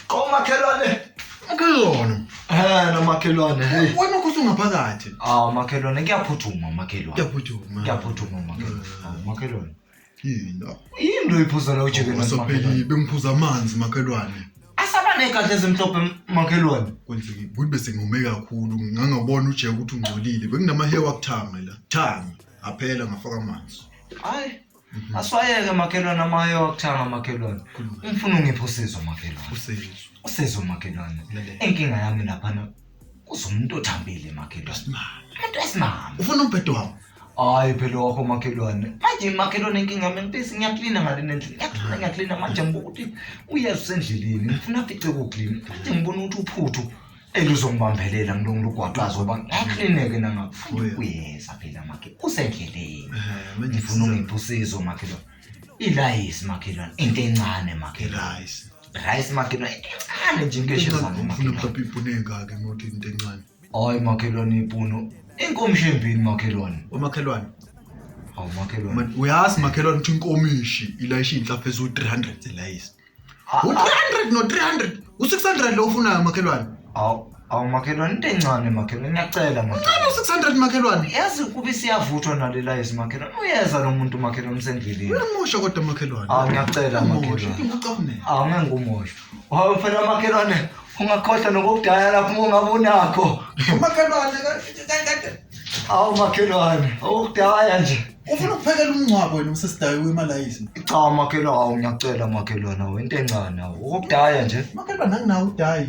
Qo makhelwane. Akuyona. Eh no makhelwane. Hey. Wena ukho sungaphakathi. Ah makhelwane kuyaphuthuma makhelwane. Kuyaphuthuma. Kuyaphuthuma makhelwane. Ah, Makhelwane. Yini? Yini lo iphuza la ujeke makhelwane. Sopheli bengiphuza amanzi makhelwane. Asabane kahle ezimhlophe m- makhelwane. Kwenzeki ukuthi bese ngome kakhulu ngangabona ujeke ukuthi ungcolile. Bekunama hair wakuthanga la. Thanga. Aphela ngafaka amanzi. Hayi. Mhm. Aswayeke makhelwane amaye wakuthanga makhelwane. Mhm. Umfuna ungipha usizo makhelwane. Usizo. Usizo makhelwane. Inkinga yami laphana kuzomuntu othambile makhelwane. Esimama. Umuntu esimama. Ufuna umbhedo wakho. Hayi phela wakho makhelwane. Manje makhelwane inkinga yami ngibisi ngiyaklina ngale nendlela. Ngiyaklina ngiyaklina manje ngibuka ukuthi uyeza usendleleni. Ngifuna afice kuklina. Manje ngibona ukuthi uphuthu. elizongibambelela ngilonga lugwaqazo ngoba ngiyaklineke nangakufuni kuyeza phela makhe usendleleni ngifuna ungipha usizo makhelwane ilayisi makhelwane into encane makhelwane rice makhelwane into encane nje ngeshezanmakhelwane hayi makhelwane ipunu inkomishi embini makhelwane omakhelwane awu makhelwane uyazi makhelwane ukuthi inkomishi ilayishe inhlaphezu 300 elayisi u-300 no-300 u-600 lo ufunayo makhelwane Awu awu makhelwane into encane makhelwane ngiyacela makhelwane. uncane u-600 makhelwane Yazi kube siyavuthwa nalela yesi makhelwane. Uyeza lo muntu makhelwane usendleleni. uyamusha kodwa makhelwane Awu ngiyacela makhelwane. ucabunela Awu ngeke ngumosho. Wawe phela makhelwane ungakhohlwa nokokudaya lapho uma ungabe unakho. makhelwane Awu makhelwane okudaya nje. ufuna ukuphekela umngcwabo wena usesidayo wemalayisi cha umakhelwane awu ngiyacela umakhelwane awu into encane awu ukudaya nje umakhelwane anginawo udayi